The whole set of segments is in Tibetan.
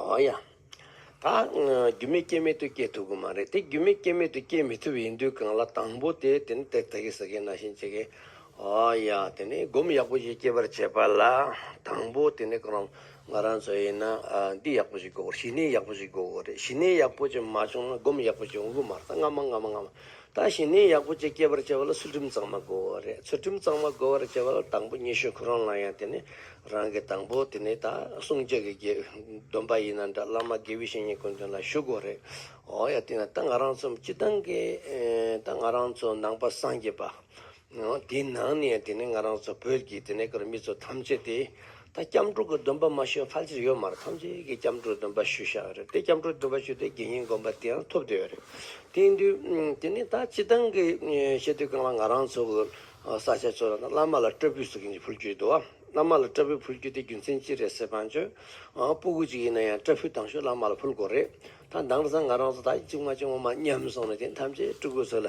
ཨོ་ཡ། ད་རྒྱུ་མེད་རྐྱེན་མེད་དུ་སྐྱེ་ཐུབ་ཀྱི་མ་རེད་དེ་རྒྱུ་མེད་རྐྱེན་མེད་དུ་སྐྱེ་མི་ཐུབ་ཡིན་དུས་གང་ལ་དང་པོ་དེ་དེ་ནི་དེ་ད་གི་ཟ་གི་ན་བཞིན་བྱེད་གི། ཨོ་ཡ། དེ་ནི་སྒོམ་ཡག་པོ་ཞིག་སྐྱེ་བར་བྱེད་པ་ལ་དང་པོ་དེ་ནི་གང་རུང་ང་རང་ཚོ་ཡིན་ན་འདི་ཡག་པོ་ཞིག་དགོས་གོ་ཞི་གནས་ཡག་པོ་ཞིག་དགོས་གོ་རེད་ཞི་གནས་ཡག་པོ་ཞིག་མ་བྱུང་ན་སྒོམ་ཡག་པོ་ཞིག་འོང་གི་མ་རེད་ད་སྔ་མ་སྔ་མ་སྔ་མ་ད་ཞིང་ནན་ཡག་པོ་བཅས་སྐྱེད་པར་བྱེད་པ་ལ་ཚུལ་ཁྲིམས་གཙང་མ་དགོས་པ་རེད་ཚུལ་ཁྲིམས་གཙང་མ་དགོས་པར་བྱེད་པ་ལ་དང་པོ་ཉི་ཤུ་ཁོ་རང་ལ་ཡང་དེ་ནི་རང་གི་དང་པོ་དེ་ནི་ད་སྲུང་བཅད་ཀྱི་དགེ་འདུན་པ་ཡིན་ན་འདྲ་བླ་མ་དགེ་བའི་བཤེས་གཉེན་ཀུན་དོན་ལ་བཞུགས་དགོས་རེད་འོ་ཡ་དེ་ན་ད་ང་རང་ཚོ་སྤྱི་བཏང་གི་ད་ང་རང་ཚོ་ནང་པ་སངས་རྒྱས་པ་དེའི་ནང་ནས་དེ་ནས་ང་རང་ཚོ་བོད་ཀྱི་དེ་ནས་ཀར་མི་ཚོ་ཐམས་ཅད་དེ་ད་སྐྱབས་འགྲོ་གི་འདུན་པ་མ་ཞུས་ཕལ་ཆེར་ཡོད་མ་རེད་ཐམས་ཅད་ཀྱི་སྐྱབས་འགྲོ་འདུན་པ་ཞུ་ཤ་ཨ་རེད་དེ་སྐྱབས་འགྲོ་འདུན་པ་ཞུས་ཏེ་དགེ་བསྙེན་དགོན་པ་དེའང་ཐོབ་བསྡད་ཡོད་རེད་དེ་ཡིན་དུས་དེ་ནས་ད་སྤྱི་བཏང་གི་ཤེས་དུས་གང་ལ་ང་རང་ཚོ་གི་ས་ཆ་ཚོ་རང་ད་བླ་མ་ལ་སྐྲ་སྤུས་ཟེར་གྱིན་ཕུལ་རྒྱུ་ཡོད་དུ་ཨ་བླ་མ་ལ་སྐྲ་སྤུས་ཕུལ་རྒྱུ་དེ་རྒྱུ་མཚན་ཅི་རེད་ཟེར་བ་ཆོས་སྤུ་གུ་ཅིག་ཡིན་ན་ཡང་སྐྲ་སྤུས་ཐང་ཤོས་བླ་མ་ལ་ཕུལ་དགོས་རེད་ད་འདང་ལ་ཚང་ང་རང་ཚོ་ད་ཅིག་མ་ཅིག་ངོ་མ་ཉམས་སོང་ནས་དེ་ཐམས་ཅད་སྤྲུལ་སྐུ་ཚོ་ལ་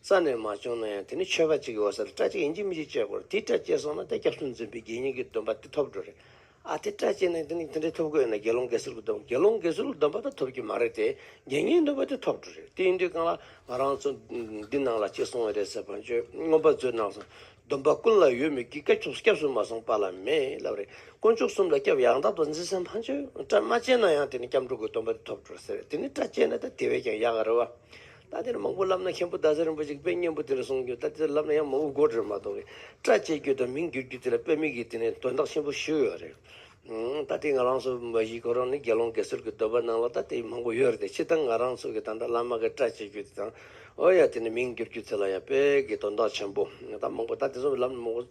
རྩ་ནས་མ་བྱུང་ན་ཡང་དེ་ནི་ཆོས་པ་གཅིག་གི་འོད་གསལ་ལ་སྐྲ་གཅིག་ཡིན་གྱི་མི་འཇིགས་བཅས་སྐོར་དེའི་སྐྲ་བཅད་སོང་ན་དེ་སྐྱབས་གསུམ་འཛིན་པའི་དགེ་བསྙེན་གྱི་སྡོམ་པ་དེ་ཐོབ་འགྲོ་རེད་ཨ། དེ་སྐྲ་བཅད་ནས་དེ་ནི་དེ་འདྲའི་ཐོབ་གོ་ཡོད་ན་དགེ་སློང་དགེ་སེལ་གྱི་སྡོམ་དགེ་སློང་དགེ་སེལ་གྱི་སྡོམ་པ་དག་ཐོབ་ཀྱི་མ་རེད་དེ་དགེ་བསྙེན་སྡོམ་པ་དེ་ཐོབ་འགྲོ་རེད་དེ་ཡིན་དུས་གང་ལ་ང་རང་ཚོ་འདི་ནང་ལ་གཅིག་སོང་བ་རེད་ཟེར་བར་ཆོས་མངོན་པ་མཛོད་ནང་སོང་སྡོམ་པ་ཀུན་ལ་ཡོད་མོད་ཀྱི་སྐྱབས་གསུམ་མ་སོང་པ་ལ་མེད་ལབ་རེད་དཀོན་མཆོག་གསུམ་ལ་སྐྱབས་ཡང་དག་ཏུ་འཛིན་ས་མ་བྱོས་སྐྲ་མ་བཅད་ན་ཡང་དེ་ནི་སྐྱབས་འགྲོ་གྱི་སྡོམ་པ་དེ་ཐོབ་འགྲོ་ཟེར་རེད་དེ་ནི་སྐྲ་བཅད་ན་ད་དེ་བས་ཀྱང་ཡག་གི་རེད་བ། ད་དེར་མང་པོ་བསླབ་ན་མཁན་པོ་རྡ་ས་རིན་པོ་ཆེ་དཔེ་སྙན་པོ་དེ་ལ་གསུངས་རྒྱུ་ད་དེར་བསླབ་ན་ཡང་མང་བོ་མགོ་འགྲོས་མ་གཏོགས་གི་སྐྲ་བཅད་རྒྱུ་དང་མིང་བསྒྱུར་རྒྱུ་དེ་ལ་དཔེ་མིག་གིས་དེ་ནས་དོན་དག་ཆེན་པོ་ཞུས་ཡོད་རེད། ད་དེ་ང་རང་ཚོ་མ་གཞི་ཁོ་རང་ནི་དགེ་སློང་དགེ་ཚུལ་གྱི་འདོད་པ་སྣང་ལ་ད་དེ་མང་པོ་ཡོད་རེད་དེ་ཕྱི་དང་ང་རང་ཚོ་གི་ད་འདྲ་བླ་མ་གི་སྐྲ་བཅད་རྒྱུ་དེ་དང་ཨོ་ཡ་དེ་ནས་མིང་བསྒྱུར་རྒྱུ་དེ་ལ་ཡང་དཔེ་གི་དོན་དག་ཆེན་པོ་ད་མང་པོ་ད་དེ་ཚོ་བསླབ་ན་མང་པོ་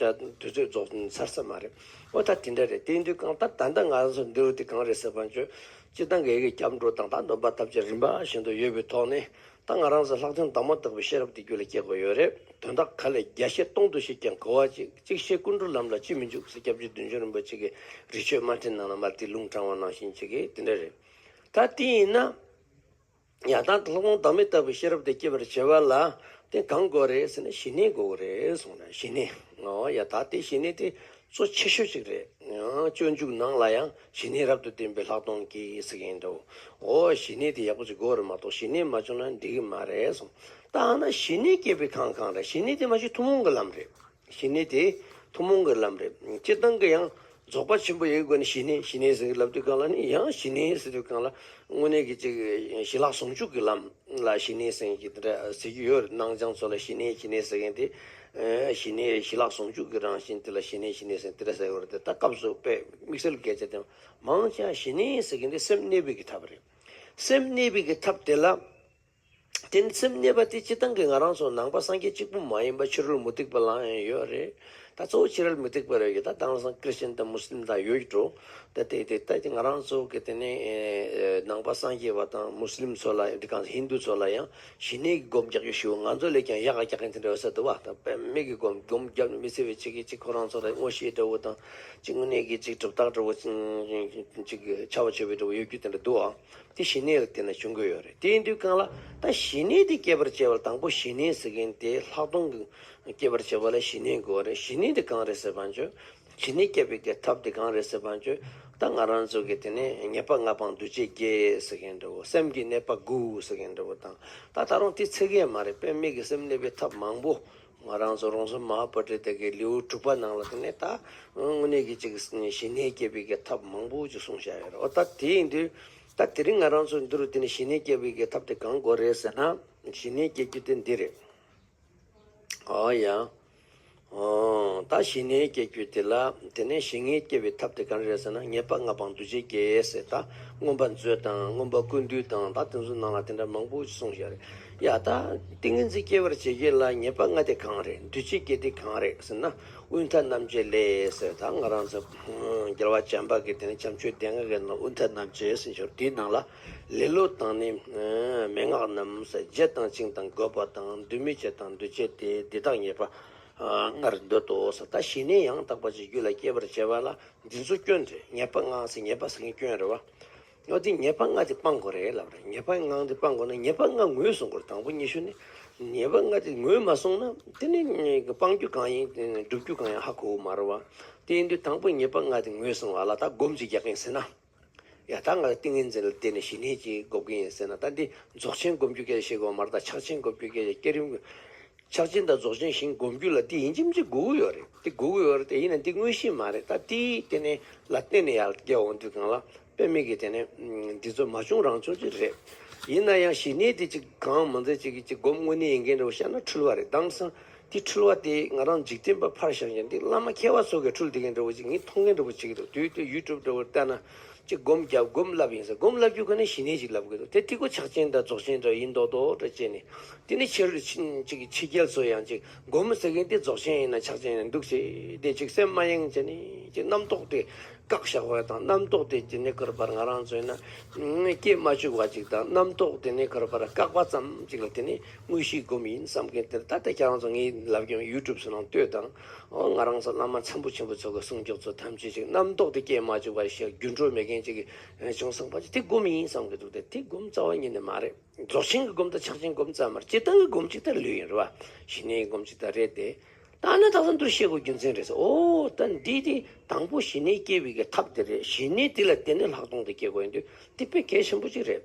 དུས་ཚོད་རྫོགས་ཚར་ས་མ་རེད། ཨོ་ད་དེ་འདྲ་རེད་དེ་དུས་གང་ལྟར་ད་ལྟ་ང་རང་ཚོ་འདི་རུ་དེ་གང་རེད་ཟེར་བ་ཆོས་སྤྱིར་ཏང་གི་སྐྱབས་འགྲོ་དང་ཏང་དོན་པ་ཐབས་ཅད་རིམ་པ་བཞིན་དུ་ཡོད་པའི་ཐོག་ནས་ཏང་ང་རང་ཟེར་ལྷག་དོན་དག་མ་དག་པའི་ཤེས་རབ་དེ་རྒྱུད་ལ་སྐྱེ་དགོས་ཡོད་རེད་དོན་དག་ག་ལས་བརྒྱ་བཤད་སྟོང་དུ་བཤད་ཀྱང་གོ་བ་གཅིག་གཅིག་བཤད་ཀུན་འགྲོ་ལམ་ལ་ཅིས་མི་འཇུག་ཟེར་སྐྱབས་རྗེ་བདུན་ཅུ་རིན་པོ་ཆེ་གི་རི་ཆོས་དམར་ཁྲིད་ནང་ལ་མར་ཏིའི་ལུང་དྲངས་བ་ནང་བཞིན་བྱེད་ཀྱི་དེ་འདྲ་རེད་ད་དེ་ཡིན་ན། ཡང་དག་ལྷག་མ་བདག་མེད་ལྟ་བུའི་ཤེས་རབ་དེ་སྐྱེད་པར་བྱེད་པ་ལ་དེ་གང་དགོས་རེད་ཟེར་ན་ཞི་གནས་དགོས་རེད་གསུངས་ན་ཞི་གནས་ཡང་དག་དེ་ཞི་གནས་དེ་གཙོ་ཆེ་ཤོས་ཅིག་རེད། སྤྱོད་འཇུག་ནང་ལ་ཡང་ཞི་གནས་རབ་ཏུ་བསྟེན་པའི་ལྷག་མཐོང་གིས་ཟེར་གྱི་ཡིན་འདུག་འོ་ཞི་གནས་དེ་ཡག་པོ་ཅིག་དགོས་རེད་མ་གཏོགས་ཞི་གནས་མ་བྱུང་ན་འགྲིག་གི་མ་རེད་གསུངས། ད་ཧ་ན་ཞི་གནས་སྐྱེད་པའི་ཁང་གང་རེད་ཞི་གནས་དེ་མ་གཞི་ཐུན་མོང་གི་ལམ་རེད། ཞི་གནས་དེ་ཐུན་མོང་གི་ལམ་རེད། སྤྱིར་བཏང་གི་ཡང་རྫོགས་པ་ཆེན་པོ་ཡི་སྒོ་ནས་ཞི་གནས་ཞི་གནས་ཟེར་གི་ལབ་དུས་གང་ལ་ནི་ཡང་ཞི་གནས་ཟེར་དུས་གང་ལ་དངོས་གནས་ཀྱི་ཅིག་ཞི་ལྷག་ཟུང་འཇུག་གི་ལམ་ལ་ཞི་གནས་ཟེར་གི་འདི་འདྲ་ཟེར་གྱི་ཡོད་རེད་སྣང་སྦྱང་ཚོ་ལ་ཞི་གནས་ཞི་གནས་ཟེར་མཁན་དེ་ཞི་གནས་རེད་ཞི་ལྷག་ཟུང་འཇུག་གི་རང་བཞིན་དེ་ལ་ཞི་གནས་ཞི་གནས་ཟེར་གི་འདི་འདྲ་ཟེར་ཡོད་རེད་དེ་ལྟ་སྐབས་སུ་དཔེ་དམིགས་བསལ་སྐད་ཆ་དེ་མང་ཆ་ཞི་གནས་ཟེར་གི་འདི་སེམས་གནས་སྤེལ་གི་ཐབས་རེད་སེམས་གནས་སྤེལ་གི་ཐབས་དེ་ལ། དེ་ནི་སེམས་གནས་པ་དེ་སྤྱི་དང་གི་ང་རང་སོགས་ནང་པ་སངས་རྒྱས་གཅིག་པུ་མ་ཡིན་པ་ཕྱི་རོལ་མུ་སྟེགས་པ་ལའང་ཡང་ཡོད་རེད་ད་གཙོ་བོ་ཕྱི་རལ་མུ་སྟེགས་པ་རེད་ད་དྭངས་སངས་ཀིར་སྟེན་དང་མུ་སི་ལིམ་དང་ཡོད་ཀྱི་འགྲོ་ད་དེ་དེ་ལྟ་དེ་ང་རང་ཚོ་གི་དེ་ནས་ནང་པ་སངས་རྒྱས་པ་དང་མུ་སི་ལིམ་ཚོ་ལ་འདི་གང་ཟེར་ཧིན་དུ་ཚོ་ལ་ཡང་ཞི་གནས་གི་སྒོམ་རྒྱག་རྒྱུ་ཞུ་ང་ཚོ་ལས་ཀྱང་ཡག་ག་རྒྱག་མཁན་དེ་འདྲ་ཡོད་ས་འདུག་བ་དང་དཔེ་མེད་གི་སྒོམ་སྒོམ་རྒྱབ་ནས་མི་ཚེ་བའི་ཆེ་གེ་གཅིག་ཁོ་རང་ཚོ་ལ་དངོས་ཤེས་འདྲ་བོ་དང་གཅིག་དངོས་གནས་ཀྱི་གཅིག་གྲུབ་རྟགས་འདྲ་བོ་གཅིག་ཆར་བ་ཆོད་པའི་འདྲ་བོ་ཡོད་རྒྱུ་དེ་འདྲ་འདུག་བ། དེ་ཞི་གནས་ལ་བརྟེན་ན་བྱུང་གི་ཡོད་རེད་དེ་ཡིན་དུས་གང་ལ་ད་ཞི་གནས་དེ་སྐྱེད་པར་བྱེད་པར་དང་པོ་ཞི་གནས་ཟེར་མཁན་དེ་ལྷག་མཐོང་གི་སྐྱེད་པར་བྱེད་པ་ལ་ཞི་གནས་དགོས་རེད་ཞི་གནས་དེ་གང་རེད་ཟེར་བ་བྱོས། ཞི་གནས་སྐྱེད་པའི་གི་ཐབས་དེ་གང་རེད་ཟེར་བ་བྱོས། ད་ང་རང་ཚོ་གི་དེ་ནས་ཉེས་པ་ལྔ་སྤངས་འདུ་བྱེད་བརྒྱད་ཟེར་མཁན་འདྲ་བོ་སེམས་ཀྱི་གནས་པ་དགུ་ཟེར་མཁན་འདྲ་བོ་དང་ད་ད་རུང་དེ་ཚད་བརྒལ་མ་རེད་དཔེར་མིག་གི་སེམས་གནས་པའི་ཐབས་མང་པོ་ང་རང་ཚོ་རོང་ཟོམ་མ་ཧཱ་པཱ་ཏྲི་ཏཱ་ཀའི་ལེའུ་དྲུག་པ་ནང་ལ་དེ་ནས་ད་དངོས་གནས་ཀྱི་ཅིག་ཞི་གནས་སྐྱེད་སྤེལ་གྱི་ཐབས་མང་པོ་ཅིག་གསུངས་བཞག་ཡོད་རེད། འོ་ད་དེ་ཡིན་དུས་ད་དེ་རིང་ང་རང་ཚོས་འདི་རུ་དེ་ནས་ཞི་གནས་སྐྱེད་སྤེལ་གྱི་ཐབས་དེ་གང་དགོས་རེད་ཟེར་ན། ཞི་གནས་སྐྱེད་རྒྱུ་དེ་འདི་རེད། ཨོ་ཡ། ཨོ། ད་ཞི་གནས་སྐྱེད་རྒྱུ་དེ་ལ་དེ་ནས་ཞི་གནས་སྐྱེད་པའི་ཐབས་དེ་གང་རེད་ཟེར་ན་ངེས་པ་ང་པང་དུ་ཆེ་རྒྱལ་ཡས་ཟེར་ད་རྔོན་པ་མཛོད་དང་རྔོན་པ་ཀུན་འདུས་དང་ད་དེ་ཚོའི་ནང་ལ་དེ་འདྲ་མང་པོ་ཅིག་གསུངས་བཞག་རེད། ཡ་ད། ཏིང་ངེ་འཛིན་སྐྱེ་བར་བྱེད་ཀྱི་ལ་ཉེས་པ་ལྔ་སྟེ་གང་རེད་འདུས་བྱས་ཀྱི་དེ་གང་རེད་ཟེར་ན་དབུས་མཐའ་རྣམ་འབྱེད་ལས། ད་ང་རང་ཚོ། རྒྱལ་བ་བྱམས་པ་གིས་དེ་ནི་བྱམས་ཆོས་ལྡན་ངག་གི་ནང་དབུས་མཐའ་རྣམ་འབྱེད་ཟེར་འབྱོར་དེའི་ནང་ལ། ལེ་ལོ་དང་ནི། མན་ངག་རྣམས། བརྒྱད་དང་བཅིངས་དང་བསྒོ་བ་དང་འདུས་མི་བྱེད་དང་འདུས་བྱས་དེ་འདི་དག་ཉེས་པ། ལྔར་འདོད་དོ་ཟེར་ད་ཞི་གནས་ཡང་དག་པ་ཅིག་རྒྱུད་ལ་སྐྱེ་བར་བྱེད་པ་ལ་འདི་ཚོ་སྐྱོན་རེད་ཉེས་པ་ལྔ་ཟེར་ཉེས་པ་ཟེར་མཁན་སྐྱོན་རེད་བ། སྔགས་འདི་ཉེས་པ་ལྔ་དེ་སྤང་དགོས་རེད་ལབ་རེད་ཉེས་པ་ལྔ་དེ་སྤང་དགོས་ན་ཉེས་པ་ལྔ་ངོས་བཟུང་དགོས་རེད་དང་པོ་ཉི་ཤུ་ནི་ཉེས་པ་ལྔ་དེ་ངོས་མ་བཟུང་ན་དེ་ནི་སྤང་རྒྱུ་གང་ཡིན་སྒྲུབ་རྒྱུ་གང་ཡིན་ཧ་གོ་བོ་མ་རེད་བ་དེ་ཡིན་དུས་དང་པོ་ཉེས་པ་ལྔ་དེ་ངོས་བཟུང་བ་ལ་ད་སྒོམ་གཅིག་རྒྱག་གིན་ཟེར་ན་ཡ་ད་ང་ཏིང་ངེ་འཛིན་ལ་བརྟེན་ནས་ཞི་གནས་གཅིག་སྒོབ་གིན་ཡིན་ཟེར་ན་ད་འདི་རྫོགས་ཆེན་སྒོམ་རྒྱུ་སྐད་ཆ་བཤད་དགོས་བ་མ་རེད་ད་ཆགས་ཆེན་སྒོབ་རྒྱུ་སྐད་ཆ་བསྐྱར་རིམ་ཆགས་ཆེན་དང་རྫོགས་ཆེན་ཞིང་བསྒོམ་རྒྱུ་ལ་འདི་ཡིན་ཁྱིམ་མཚེས་དགུ་དགུ་ཡོད་རེད་འདི་དགུ་དགུ་ཡོད་རེད་དེ་ཡིན་ན་འདི་དངོས་གཞི་མ་རེད་ད་ཏི་དེ་ནས་ལ་བརྟེན་ནས་ཡར་རྒྱས་འོང་དུས་གང་ལ་དཔེ་མེད་ཀི་དེ་ནས་འདི་ཚོ་མ་བྱུང་རང་བྱུང་ཅིག་རེད། ཡིན་ན་ཡང་ཞི་གནས་དེ་ཅིག་གང་མང་མཛད་ཅིག་གི་ཅིག་བསྒོམ་དངོས་གནས་ཡིན་མཁན་རེད་བ་བཤད་ན་འཁྲུལ་བ་རེད་དྭངས་སང་འདི་འཁྲུལ་བ་དེ་ང་རང་འཇིག་རྟེན་པ་ཕར་བཞག་ཅིག་འདི་བླ་མ་མཁས་བ་ཚོ་གས་འཁྲུལ་འདི་གན་རེད་བ་ཅིག་ངས་མཐོང་མཁན་རེད་བ་ཅིག་གི་འདུག་དུས་དེ་ཡུལ་གྲུབ་རེད་བ་བལྟས་ན་ཅི་བསྒོམ་བརྒྱབ་བསྒོམ་བསླབ་ཡིན་ཟེར་བསྒོམ་བསླབ་རྒྱུ་ཁོ་ནའི་ཞི་གནས་ཞིག་ལབ་དགོས་འདུག་དེ་ཏིག་གོ་ཆག་ཅན་འདྲ་རྫོགས་ཆེན་འདྲ་ཡིན་མདོག་མདོག་འདྲ་བྱས་ནས། དེ་ནས་ཕྱི་རོལ་ཕྱིན་ཅིག་ཕྱི་རྒྱལ་ཚོ་ཡང་ཅིག་བསྒོམ་ཟེར་གིན་དེ་རྫོགས་ཆེན་ཡིན་ན་ཆག་ཆེན་ཡིན་འདུག་ཅེས་དེ་ཅིག་སེམས་མ་ཡེངས་བྱས་ནས་ཅིག་རྣམ་རྟོག་དེ་བཀག་བཞག་པ་དང་རྣམ་རྟོག་དེ་ཇི་ནས་ཁུར་བར་ང་རང་ཚོས་ན་སྐྱེས་མ་བཅུག་བ་ཅིག་དང་རྣམ་རྟོག་དེ་ནས་ཁུར་བར་བཀག་པ་ཙམ་ཅིག་ལ་དེ་ནས་དངོས་གཞིའི་བསྒོམ་ཡིན་བསམ་གིན་དེར་ད་ལྟ་ཁྱེད་རང་ཚོ་ངའི་ལབ་ཀྱང YouTube སུ་ནང་ལྟོས་དང། ཨོ་ང་རང་ཚོ་བླ་མ་ཚན་པོ་ཆེན་པོ་ཚོ་གི་གསུང་མགྱོགས་ཚོ་ཐམས་ཅད་ཅིག་རྣམ་རྟོག་དེ་སྐྱེ་མ་བཅུག་པ་ཞིག་རྒྱུ་འཕྲོད་མེད་མཁན་ཅིག་གི་བྱུང་སོང་པ་ཅིག་དེ་སྒོམ་ཡིན་བསམ་གི་འདུག་དེ་དེ་སྒོམ་རྩ་བ་ཉིད་ནས་མ་རེད་རྫོགས་ཆེན་གི་སྒོམ་དང་ཕྱག་ཆེན་སྒོམ་ཙམ་མ་རེད་སྤྱི་བཏང་གི་སྒོམ་ཅིག་དང་ལུས་ཡིན་རེད་བ་ཞི་གནས་ཡི་སྒོམ་ཅིག་དང་རེད་དེ། ད་ནི་དག་ས་འདུ་ཤེས་སྒོ་རྒྱུ་མཚན་རེད་ཟེར་ཨོ་ད་འདི་དེ་དང་པོ་ཞི་གནས་སྐྱེ་བའི་གི་ཐབས་དེ་རེད་ཞི་གནས་དེ་ལ་བརྟེན་ནས་ལྷག་མཐོང་དེ་སྐྱེ་དགོས་ཡིན་དུས་དེ་དཔེ་གལ་ཆེན་པོ་ཅིག་རེད།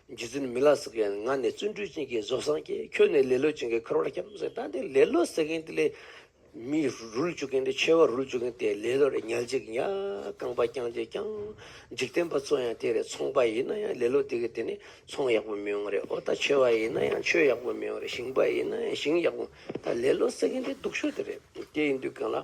རྗེ་བཙུན་མི་ལ་ཟེར་མཁན་ང་ནི་བརྩོན་འགྲུས་ཅན་གྱི་བཟོ་བཟང་གྱིས་ཁྱོད་ནི་ལེ་ལོ་ཅན་གྱི་འཁོར་བར་སྐྱབས་སེམས་ལྟ་འདི་ལེ་ལོ་ཟེར་མཁན་དེ་ལས་མི་རུལ་བཅུག་མཁན་དེ་མཆེ་བ་རུལ་བཅུག་མཁན་དེ་ལེ་ལོ་རེད་ཉལ་འཇིག་ཉལ་རྐང་པ་བརྐྱངས་འཇིག་བརྐྱངས་འཇིག་བསྟན་པ་ཚོ་ཡང་དེ་རེད་ཚོང་པ་ཡིན་ན་ཡང་ལེ་ལོ་དེ་གི་དེ་ནི་ཚོང་ཡག་པོ་མི་ཡོང་རེད་ཨོ་ད་མཆེ་བ་ཡིན་ན་ཡང་མཆོད་ཡག་པོ་མི་ཡོང་རེད་ཞིང་པ་ཡིན་ན་ཡང་ཞིང་ཡག་པོ་ད་ལེ་ལོ་ཟེར་མཁན་དེ་སྡུག་ཤོས་དེ་རེད་དེ་ཡིན་དུས་གང་ལ།